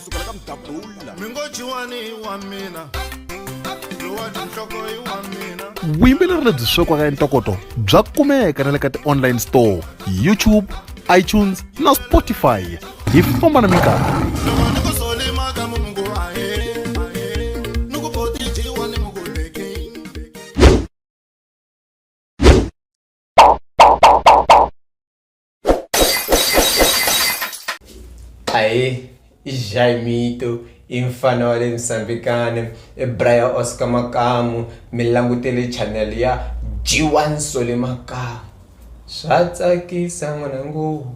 sukela ka mudabula mi ngo jiwani i wa mina lowa tinhloko i wa mina vuyimbeleri lebyi swekiwaka entokoto bya kumeka na le ka ti-online store youtube itunes na spotify hi famba na minkarhi loko ni ku solima ka mungu ahe ahe ni ku boti jiwa ni muku beking Aê, Jaimito, i mfana wa le Msambikane, i Brian Oscar Makamu, mi langutele channel ya G1 Sole Makamu. Swa tsakisa n'wanangu.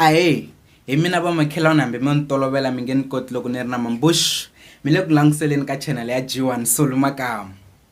ahe hi mina vamakhelwana hambi mi ni tolovela mi nge ni koti loko ni ri na mambush mi le ku languseleni ka chanel ya g1 solu makamu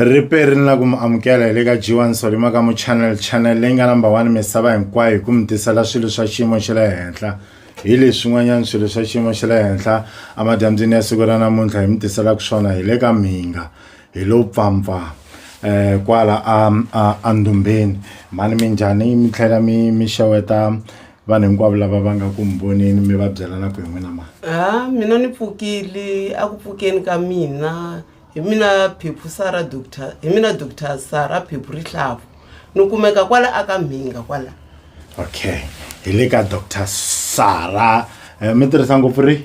ripe ri ni la ku mi amukela hi le ka g1 solima ka mu channel channel leyi nga number one misava hinkwayo hi ku mi tisela swilo swa xiyimo xa le henhla hi leswin'wanyana swilo swa xiyimo xa le henhla emadyambyini ya siku ra namuntlha hi mi tiselaka swona hi le ka mhinga hi lo pfampfa eh kwala a a a ndumbeni mhani minjhani mi tlhela mi mi xeweta vanhu hinkwavo lava va nga ku mi voneni mi va byela na ku hi n'wina mani ha mina ni pfukile a ku pfukeni ka mina hi mina phephu sara doctor hi mina doctor sara phephu rihlavu ni kumeka kwala aka mhinga kwala okay hi le ka doctor sara eh, mi tirhisa ngopfu ri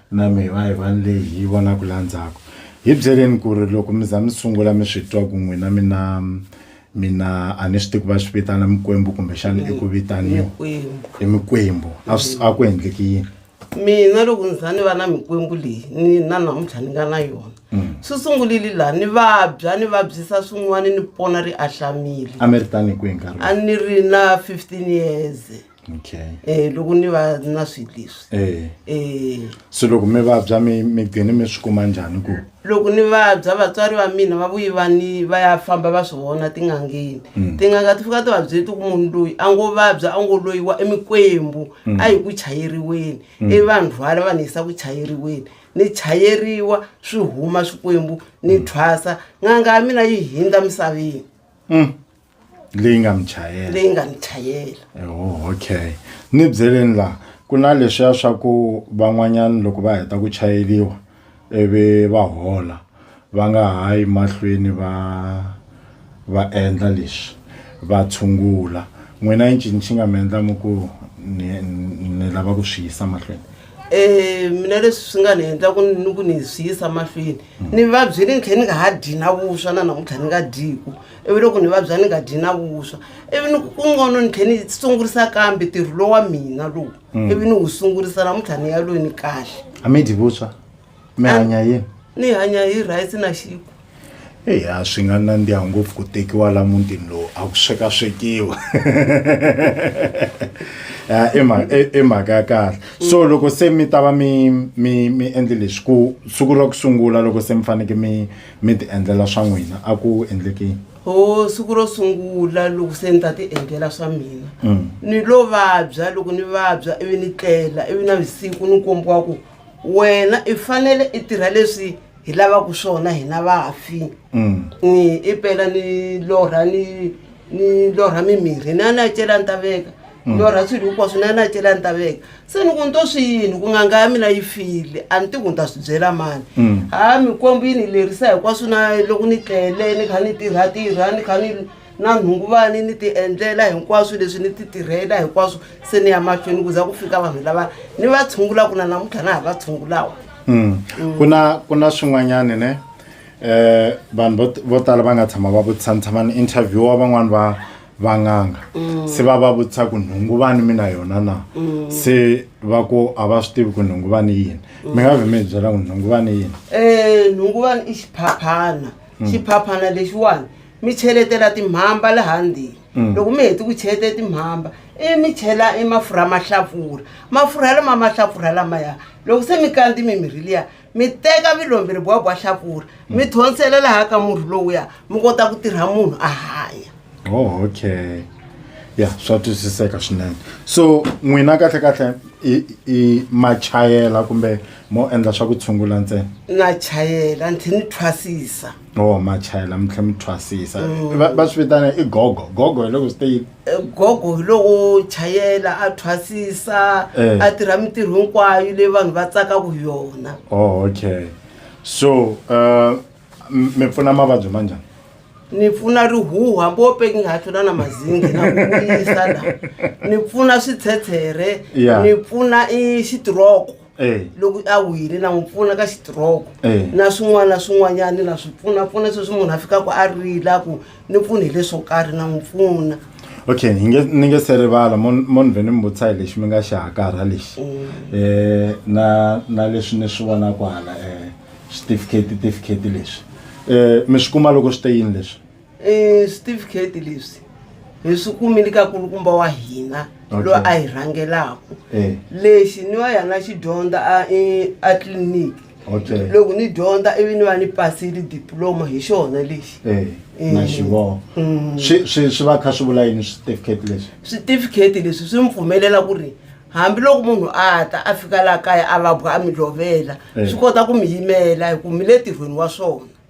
Na mehe va Yivani leyi hi yi vonaka laha ndzhaku. Hi byeleni ku ri loko mi za mi sungula mi swi twa ku n'wina mi na mi na a ni swi tivi ku va swi vitana mikwembu kumbexana i ku vitaniwa Mikwembu. i mikwembu a swi a ku endleki yini mina loko ni za ni va na mikwembu leyi ni na namuntlha ni nga na yona swi sungulile laha ni vabya ni vabyisa swin'wana ni pona ri ahlamile a mi ri tani hi kwihi nkarhi a ni ri na 15 years okay eh loko ni va ni na swilo leswi eh eh so loko mi vabya mi mi gcine mi swi kuma njhani ku loko ni vabya vatswari va mina va vuyi va ni va ya famba va swi vona tin'angeni Mm. tin'anga ti fika ti va byeti ku munhu loyi a ngo vabya a ngo loyiwa emikwembu Mm. a hi ku chayeriweni Mm. i vanhu rhwala va ni yisa ku chayeriweni ni chayeriwa swi huma swikwembu ni thwasa n'anga ya mina yi hindza misaveni Mm. leyi nga mi chayela leyi nga ni chayela oh, okay ni byeleni laha ku na leswiya swa ku van'wanyana loko va heta ku chayeliwa ivi va hola va nga ha yi mahlweni va va endla leswi va tshungula n'wina i ncini xi nga mi endla mi ku ni ni- ni lava ku swi yisa mahlweni um mina leswi swi nga ni endla ku ni ni ku ni swi yisa mahlweni ni vabyile ni tlhela ni nga ha dyi na vuswa na namuntlha ni nga dyiku ivi loko ni vabya ni nga dyi na vuswa ivi ni ku ngono ni tlhe ni sungurisa kambe tirho lowu wa mina lowu Mm. ivi ni wu sungurisa namuntlha ni ya loyi ni kahle a mi dyi vuswa mi hanya yini ni hanya hi rice na xiku eya swi nga nandziha ngopfu ku tekiwa la mutini lowu a ku swekaswekiwa Ya, i mha- i- i mhaka ya kahle so loko se mi ta va mi mi mi endle leswi ku siku ra ku sungula loko se mi faneke mi mi ti endlela swa n'wina a ku endleke yini ho siku ro sungula loko se ni ta ti endlela swa mina Mm. ni lo vabya loko ni vabya ivi ni tlela ivi na vusiku ni kombiwa ku wena i fanele i tirha leswi hi lavaka swona hina vafi Mm. ni i pela ni lorha ni ni lorha mimirhi na na cela ni ta veka lorha swilo hinkwaswo na na cela ni ta veka se ni ku ni to swi yini ku n'anga ya mina yi file a ni ti ku ni ta swi byela mani Mm. ha mikwembu yi ni lerisa hinkwaswo na loko ni tlele ni kha ni tirhatirha ni kha ni na nhunguvani ni ti endlela hinkwaswo leswi ni ti tirhela hinkwaswo se ni ya mahlweni ku za ku fika vanhu lava ni va tshungula ku na namuntlha na ha va tshungulawa Mm. ku na ku na swin'wanyani ne eh vanhu vo- vo tala va nga tshama va vutisa ni tshama ni interviewa van'wani va van'anga se va va vutisa ku nhunguvani mi na yona na se va ku a va swi tivi ku nhunguvani i yini mi nga vhe mi hi byela ku nhunguvani i yini Eh, nhunguvani i xiphaphana xiphaphana lexiwani mi cheletela timhamba laha ndzeni loko mi heti ku cheleta timhamba i mi chela i mafurha mahlapfura mafurha lama mahlapfura lamaya loko se mi kandzi mimirhi liya mi teka vilomberi bwa bwa hlapfura mi hmm. thonsela laha ka murhi lowuya mi kota ku tirha munhu a hanya oh, okay ya swa twisiseka swinene so n'wina kahle kahle i ma chayela kumbe mo endla swa ku tshungula ntsena na chayela ndzi ni thwasisa Oh machayela mi tlhe mi thwasisa Mm. va va swi vitana i gogo gogo hi loko swi te yini Eh, gogo hi lowo chayela a thwasisa Eh. a tirha mintirho hinkwayo leyi vanhu va tsakaka hi yona oh okay so uh, m- mi pfuna mavabyi ma njhani ni pfuna rihuhu hambi wo peki nga ha tlula na mazingi na ku vuyisa la ni pfuna switshetshele Yeah. ni pfuna i xitiroko Eh. loko a wile na n'wi pfuna ka xitiroko eh. na swin'wana na swin'wanyana na swi pfunapfuna sweswi munhu a fikaka a rila ku ni pfuni hi leswo karhi na n'wi pfuna okay ni nge ni nge se rivala mo ni vhe ni mi vutisa hi lexi mi nga xi hakarha lexi um mm. na na leswi ni swi vonaka hala um switifiketi tifiketi leswi um mi swi kuma loko swi te yini leswi e switifiketi leswi hi swi kumile ka kulukumba wa hina Okay. loyi a hi rhangelaka Eh. lexi ni wa yana xi dyondza a- e- a tliliniki Okay. loko ni dyondza ivi ni va ni pasile diploma hi xona lexi Eh, Eh. na xivoho Mm. swi swi swi va kha swi vula yini switifiketi leswi switifiketi leswi swi mi pfumelela ku ri hambiloko munhu a ta a fika laha kaya a vabwa a mi lovela Eh. swi kota ku mi yimela hi ku mi le tirhweni wa swona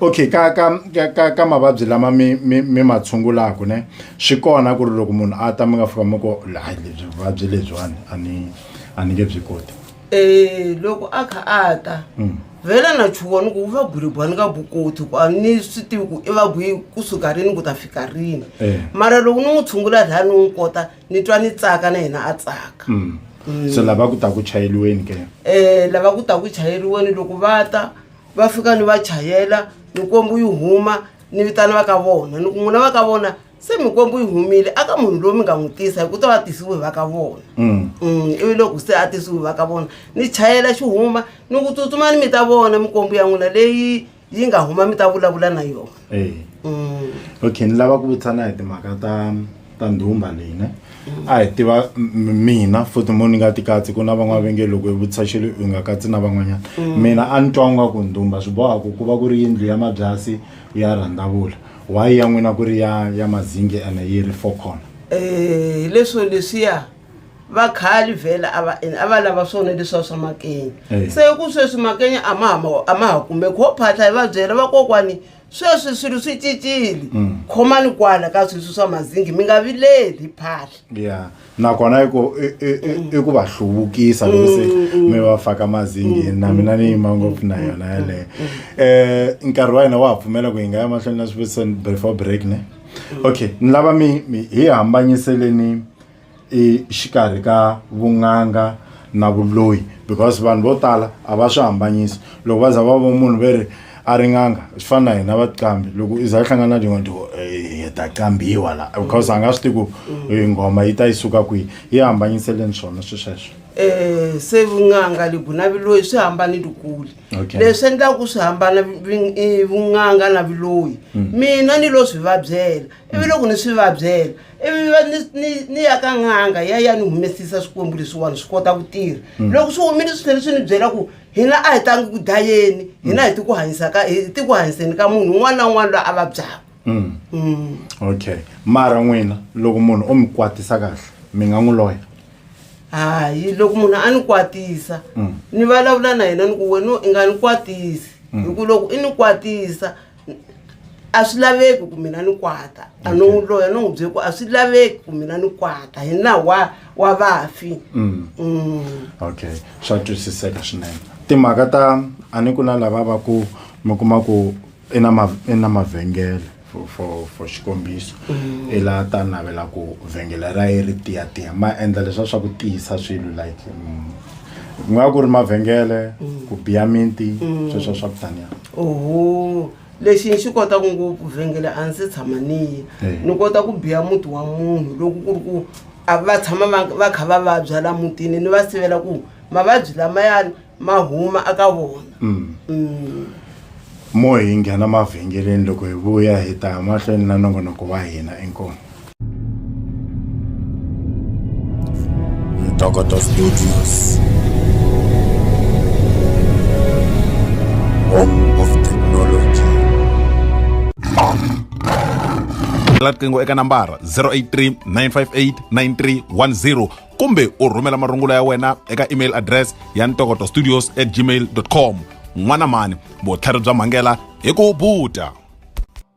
okay ka ka ka ka ka mavabyi lama mi mi mi ma tshungulaka ne swi kona ku ri loko munhu a ta mi nga fika mi ko hayi lebyi vuvabyi lebyiwani a ni a ni nge byi koti Eh, loko a kha a ta Mm. vhela na chuwani ku va gulibwa ni nga bukoti ku a ni swi tivi ku i va gwi kusuka rini ku ta fika rini Eh. mara loko ni n'wi tshungula laya ni n'wi kota ni twa ni tsaka na yena a tsaka Mm. so lava ku ta ku chayeliweni ke um lava ku ta ku chayeriweni loko va ta va fika ni va chayela mikwembu yi huma ni vitana va ka vona ni ku n'wina va ka vona se mikwembu yi humile aka munhu loyi mi nga n'wi tisa hi ku ta va tisiwe hi va ka vona mm. Mm, ivi loko se a tisiwe hi va ka vona ni chayela xi huma ni ku tsutsuma ni mi ta vona mikwembu ya n'wina leyi yi nga huma mi ta vulavula na yona eya okay ni lava ku vutisa na hi timhaka ta ta ndhumba leyi ne a hi tiva mina futhi mo ni nga ti katsi ku na van'wana va nge loko yi vutisa xilo yi nga katsi na van'wanyana mina a ni twa nga ku ndhumba swi boha ku ku va ku ri yindlu ya mabyasi ya rhandavula why ya n'wina ku ri ya ya mazingi ene yi ri four corner um leswo leswiya vakhali vhela a va ene a va lava swona leswiwa swa makenya Eh. se ku sweswi makenya a ma ha ma- a ma ha kumeki ho phahla hi va byela vakokwani sweswi swilo swi cincile Mm. khomani kwala ka sweswi swa mazingi mi nga vileli hi phahla ya nakona i ku i- i- i- i ku va hluvukisa loko se mi va faka mazingini na mina ni yima ngopfu na yona yaleyo um nkarhi wa hina wa ha pfumela ku hi nga ya mahlweni na swivutiso before break ne okay ni lava mi mi hi hambanyiseleni exikarhi ka vun'anga na vuloyi because vanhu vo tala a va swi hambanyisi loko va za va vo munhu ve ri a ri n'anga swi fana na hina vaqambi loko i za i hlangana na tin'wana tiku hi ta qambiwa la because a nga swi tivi ku eh, nghoma yi ta yi suka kwihi yi hambanyiseleni swona swi sweswo eh se vun'anga lebu na viloyi swi hambane likule Okay. leswi endlaka ku swi hambana vi- i vun'anga na viloyi mina ni lo swi vabyela ivi loko ni swi vabyela ivi va ni- ni- ni ya ka n'anga ya ya ni humesisa swikwembu leswiwani swi kota ku tirha Mm. loko swi humile swi tlhele swi ni byela ku hina a hi tangi ku dayeni hina hi ti ku hanyisa ka hi ti ku hanyiseni ka munhu un'wana na un'wana loyi a vabyaka Mm. Mm. okay mara n'wina loko munhu o mi kwatisa kahle mi nga n'wi loya hayi loko munhu a ni kwatisa Mm. ni vulavula na yena ni ku wena i nga ni kwatisi Mm. hi ku loko i ni kwatisa a swi laveki ku mina ni kwata a no n'wi loya no n'wi bye ku a swi laveki ku mina ni kwata hi nawu wa wa vafi Mm. Mm. okay swa twisiseka swinene timhaka ta a ni ku na lava va ku mi kuma ku i na ma- i na mavhengele for- for for xikombiso i la ta navela ku vhengele ra ye ri tiyatiya ma endla leswa swa ku tiyisa swilo like mm, ku nga ku ri mavhengele ku biya minti sweswo swa ku taniya oho lexi ni xi kotaka ngopfu vhengele a ndzi tshama niye eh. ni kota ku biya muti wa munhu loko ku ri ku va tshama va kha va vabya la mutini ni va sivela ku mavabyi lamayani ma huma aka vona mm. Mm. mo hi nghena mavhengeleni loko hi vuya hi ta mahlweni na nongonoko wa hina inkomo Tokotov Studios. Home of Technology. la riqingho eka nambara 083 958 9310 kumbe u rhumela marungulo ya wena eka email address ya ntokoto studios at gmail com n'wana mhani vutlhari bya mhangela hi ku buta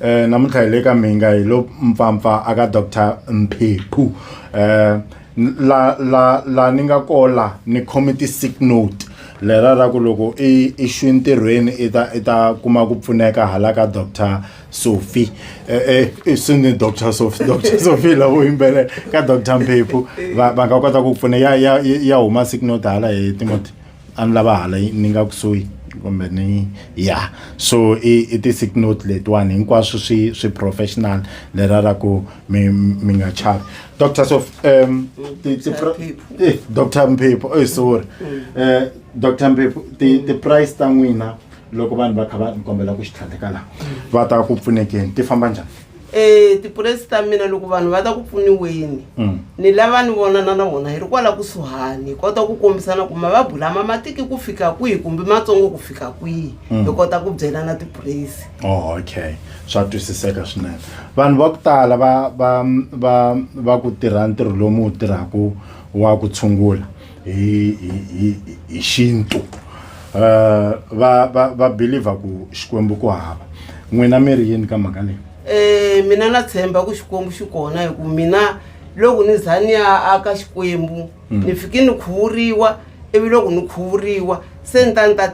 eh namuntlha hi le ka mhinga hi lo mpfampfa aka dr mpheqhu eh la la la ni nga kola ni committee sick note lera ra ku loko i i xwi ntirhweni i ta i ta kuma ku pfuneka hala ka dr sophie eh, eh, i sini dr sophie dr sophie lavo yimbelela ka dr mphephu va va nga kota ku pfuna ya ya ya huma sick note hala hi timoti a ni lava hala ni nga kusuhi kumbe ni ya so i i ti-sick note letiwani hinkwaswo swi swi professional lera ra ku mi mi nga chavi doctor so um ti- ti- pro- eh, doctor mphepho eh, sorry Eh, doctor mphepho ti- ti-price ta n'wina loko vanhu va kha va ni kombela ku xitlhandleka laha va ta ku pfunekeni ti famba njhani E tipuresi ta mina loko vanhu va ta ku pfuniweni mm. ni lava ni vonana na vona hi ri kwala kusuhani hi kota ku kombisana ku mavabyi lama ma tiki ku fika kwihi kumbe matsongo ku fika kwihi mm. hi kota ku byelana tipuresi oh, okay swa twisiseka swinene vanhu va ku tala va va va va ku tirha ntirho lowu mi wu tirhaka wa ku tshungula hi hi hi hi xintu uh, va va va believer ku xikwembu ku hava n'wina mi ri yini ka mhaka leyi eh mina na tshemba ku xikwembu xi kona hi ku mina loko ni za ni ya aka xikwembu mm. ni fike ni khuvuriwa ivi loko ni khuvuriwa se ni ta ni ta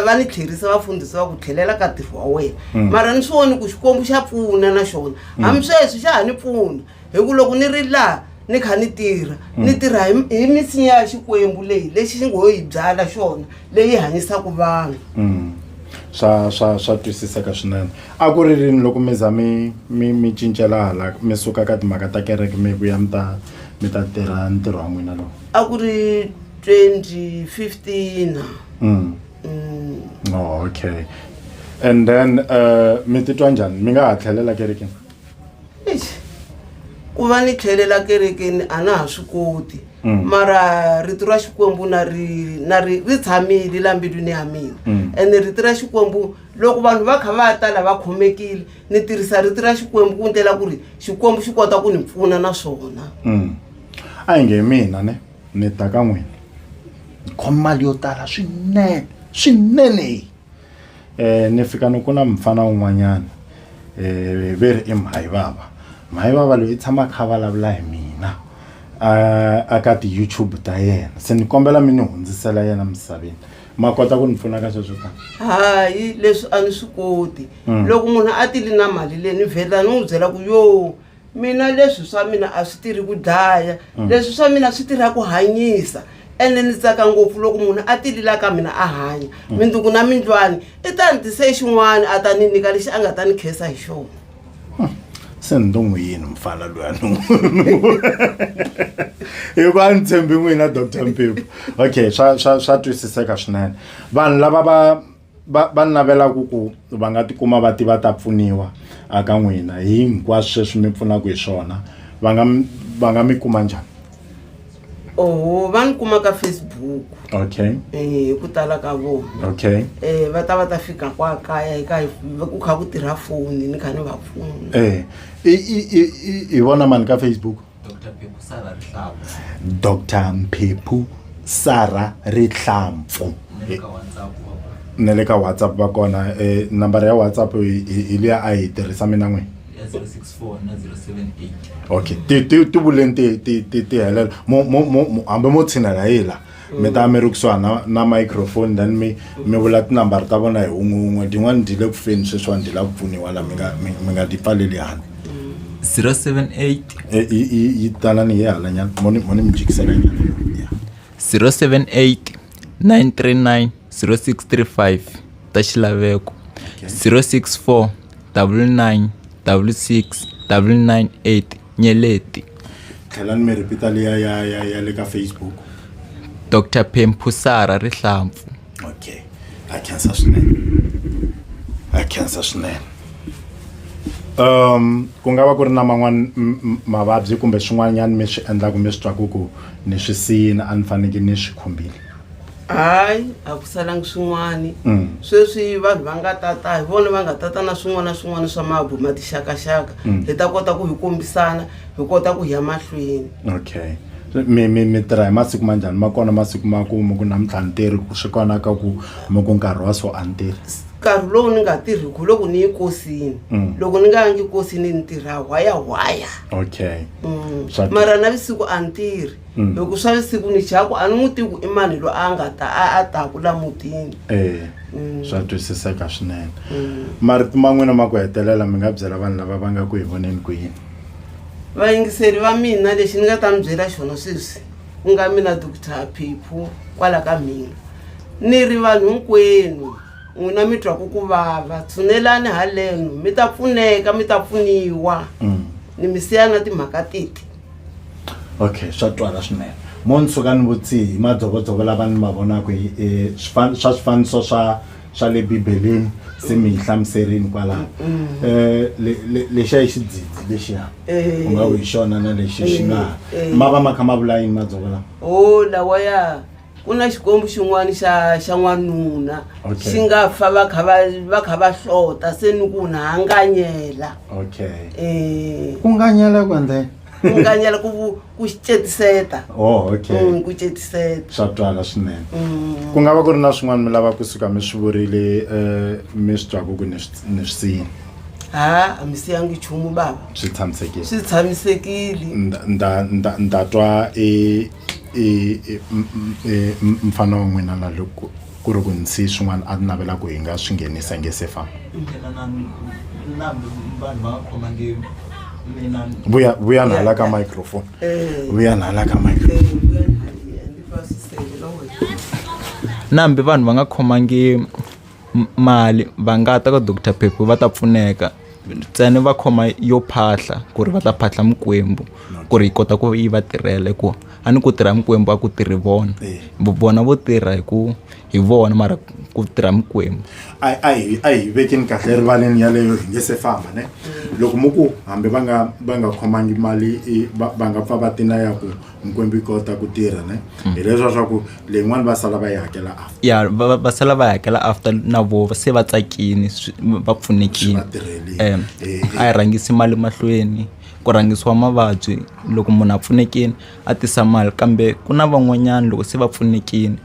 va ni tlherisa vafundhisi va ku tlhelela ka ntirho wa wena mm. mara ni swi voni ku xikwembu xa pfuna na xona mm. hambi sweswi xa ha ni pfuna hi ku loko ni ri laha ni kha ni tirha mm. ni tirha hi misinya ya xikwembu leyi lexi xi ngo yi byala xona leyi hanyisaka vanhu mm. swa swa swa twisiseka swinene a ku ri rini loko mi za mi mi mi cincela hala mi suka ka timhaka ta kereke mi ku ya mi ta mi ta tirha ntirho wa n'wina lowu a ku ri 2015 mm. mm. oh, okay and then uh, mi titwa njhani mi nga ha tlhelela kerekeni ku va ni tlhelela kerekeni a na ha swi koti mm. mara rito ra xikwembu na ri na ri ri tshamile la mbilwini ya mina mm. ene rito ra xikwembu loko vanhu va kha va tala va khomekile ni tirhisa rito ra xikwembu ku ndlela ku ri xikwembu xi kota ku ni pfuna na swona mm. a hi nge mina ne ni ta ka n'wini khoma mali yo tala swinene swinene Eh, ni fika ni ku na mufana wun'wanyana eh, ve ri i mhayi vava mhayi vava loyi i tshama a kha a vulavula hi mina a- a ka ti-youtube ta yena se ni kombela mi ni hundzisela yena misaveni ma kota ku ni pfuna ka sweswo ka hayi leswi a ni swi koti Mm. loko munhu a tili na mali leyi ni vhela ni n'wi byela ku yo mina leswi swa mina a swi tirhi ku dlaya mm. leswi swa mina swi tirha ku hanyisa ene ni tsaka ngopfu loko munhu a tilila ka mina a hanya mm. mindzuku na mindlwani i ta ni tise xin'wana a ta ni nyika lexi a nga ta ni khesa hi xona hmm. se ni to n'wi yini mufana loya ni hi ku a ni tshembi n'wina doctor mpipo okay swa swa swa twisiseka swinene vanhu lava va va va ni lavelaku ku va nga tikuma va ti va ta pfuniwa a ka n'wina hi hinkwaswo sweswi mi pfunaka hi swona va nga mi- va nga mi kuma njhani oho va ni kuma ka facebook okay eh, hi ku tala ka vona okay um va ta va ta fika kwa kaya hi ka hi- ku kha ku tirha foni ni kha ni va pfuna eh i i i i- i vona mani ka facebook dr mphephu sara rihlampfu na le ka whatsapp va kona e nambara ya whatsapp hi liya a yi tirhisa mina n'wini okay ti ti ti vuleni ti ti ti ti helela mo mo mo hambi mo tshinela hi la mi ta mi ri kusuhani na, na microphone then mi mi vula tinambara ta vona hi un'we un'we tin'wani ti le ku feni sweswiwani ti la ku pfuniwa la mi nga mi mi nga ti pfaleli hani 078 Eh, yi- yi yi tanani hi hala nyana moni moni mi jikisela nyana Yeah. 078 939 0635 ta xilaveko 064 99 66 998 nyeleti. Tlhelani mi repeat-a liya ya ya ya le ka Facebook. Doctor Phemphusara Rihlampfu. Okay. Ha khensa swinene. Ha khensa swinene. Um ku nga va ku ri na man'wani mavabyi kumbe swin'wanyani mi swi endlaku mi swi twaku ku ni swi siyini a ni faneke ni swi khumbile? hayi a ku salangi swin'wani mm. sweswi vanhu va nga tata hi vona va nga tata na swin'wana na swin'wana swa mabu ma tixakaxaka mm. hi ta kota ku hi kombisana hi kota ku hi ya mahlweni okay mi mi mi tirha hi masiku ma njhani ma kona masiku ma ku mi ku namuntlha ni tirhi ku swi kona ka ku mi ku nkarhi wa so a ni tirhi nkarhi lowu ni nga tirhiku loko ni yi kosini mm. loko ni nga yangi kosini ni tirha hwaya hwaya okay mm. mara na visiku a ni tirhi Mm. hi ku swa le sikwini jaku a ni n'wi tivi ku i mani loyi a nga ta a a taku la mutini Eh, Mm. swa twisiseka swinene Mm. marito ma n'wina ma ku hetelela mi nga byela vanhu lava va nga ku hi voneni ku yini vayingiseri va mina lexi ni nga ta mi byela xona sweswi ku nga mina doctor phiphu kwala ka mina ni ri vanhu hinkwenu n'wina mi twaku ku vava tshunelani haleno mi ta pfuneka mi ta pfuniwa Mm. ni mi siya na timhaka titi okay swa twala swinene mo ni suka ni vutsihi hi madzovodzovo lava ni ma vonaka hi eh, swifan- swa swifaniso swa swa le bibeleni se mi yi hlamuserini kwalaho Eh, le- le- lexiya i xidzidzi lexiya Eh. u nga ku hi xona na lexi xi nga Eh, eh. ma va ma kha ma vula yini madzovo lawa o lawa ya ku na xikwembu xin'wana xa xa n'wanuna Okay. xi nga fa va kha va- va kha va hlota se ni ku na hanganyela okay um ku nganyela ku endle ku nganyela ku vu- ku xi cetiseta oh okay Mm, ku cetiseta swa twala swinene Mm. ku nga va ku ri na swin'wana mi lava kusuka mi swi vurile um mi swi twaku ku ni swi- ni swi siyini ha a mi siyangi nchumu bava swi tshamisekile swi tshamisekile Nda- nda- nda- nda twa i I i i mufana wa n'wina la loko ku ri ku ni siye swin'wana a ni navela ku hi nga swi nghenisa hi nge se famba vuya vuya ni hala ka microphone vuya ni hala ka microphone nambe vanhu va nga khomangi. mali va nga ta ka doctor phepho va ta pfuneka ntsena va khoma yo phahla ku ri va ta phahla mikwembu ku ri yi kota ku yi va tirhela hikuva a ni ku tirha mikwembu a ku tirhi vona vona vo tirha hi ku hi vona mara ku tirha mikwembu a a hi a hi vekeni kahle erivaleni yaleyo hi nge se famba ne loko mo ku hambi va nga va nga khomangi mali va nga pfa va tina ya ku hinkwembi yi kota ku tirha ne hi leswa swa ku leyin'wani va sala va yi hakela after ya va va- va sala va hakela after na vo se va tsakini swi- va Swi pfunekini va tirhelini. um Eh, eh. a yi rhangisi mali mahlweni ku rhangisiwa mavabyi loko munhu a pfunekini a tisa mali kambe ku na van'wanyana loko se va pfunekini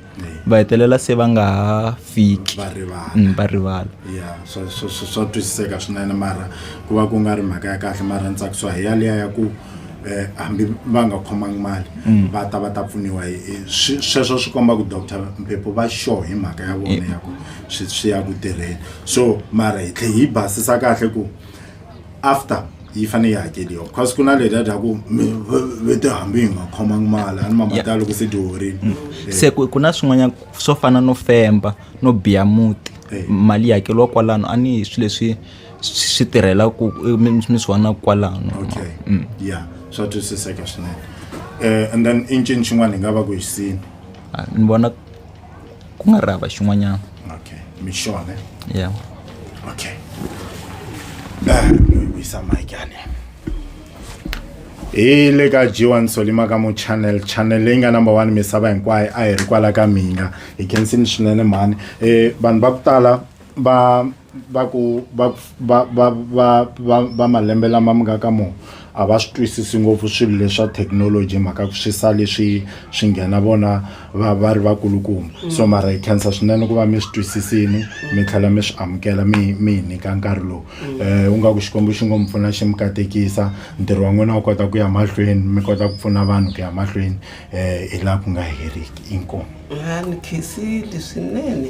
va hetelela se va nga ha fiki va rivala mm, va rivala ya swa swa- swa- swa twisiseka swinene mara ku va ku nga ri mhaka ya kahle mara ni tsakisiwa hi yaliya ya ku eh, hambi va nga khomangi mali va ta va ta pfuniwa hi- hi- swi- sweswo swi komba ku doctor mpepo va sure hi mhaka ya vona ya ku swi swi ya ku tirheni so mara hi tlhe hi basisa kahle ku after yi fanele yi hakeriwa because ku na le data ku vete hambi hi nga khomangi mali a ni mamatala loko se dyohorini mm. eh. se ku na swin'wanyana swo fana no femba no biya muti eh. mali yi hakeriwa kwalano a ni hi swi leswi swi tirhela ku mi swi vona kwalano okay mm. ya swa twisiseka swinene um and then i ncini xin'wana hi nga va ku hi sini ah, ni vona ku nga ri hava xin'wanyana okay mixone ya okay vuyisa mike ane hi le ka g1 solima ka mu channel channel leyi nga number one misava hinkwayo a hi ri kwala ka mina hi khensini swinene mhani um vanhu va ku tala va va ku va va va va va va malembe lama mi nga ka mo a va swi twisisi ngopfu swilo leswa thekinoloji mhaka ku swi sa leswi swi nghena vona va va ri vakulukumba mm. so mara hi khensa swinene ku va mi swi twisisini mi tlhela mi swi amukela mi mi hi nyika nkarhi lowu um eh, u nga ku xikwembu xi ngo mi pfuna xi mi katekisa ntirho wa n'wina wu kota ku ya mahlweni mi kota ku pfuna vanhu ku ya mahlweni um hi laha ku nga heriki inkomu ni khensile swinene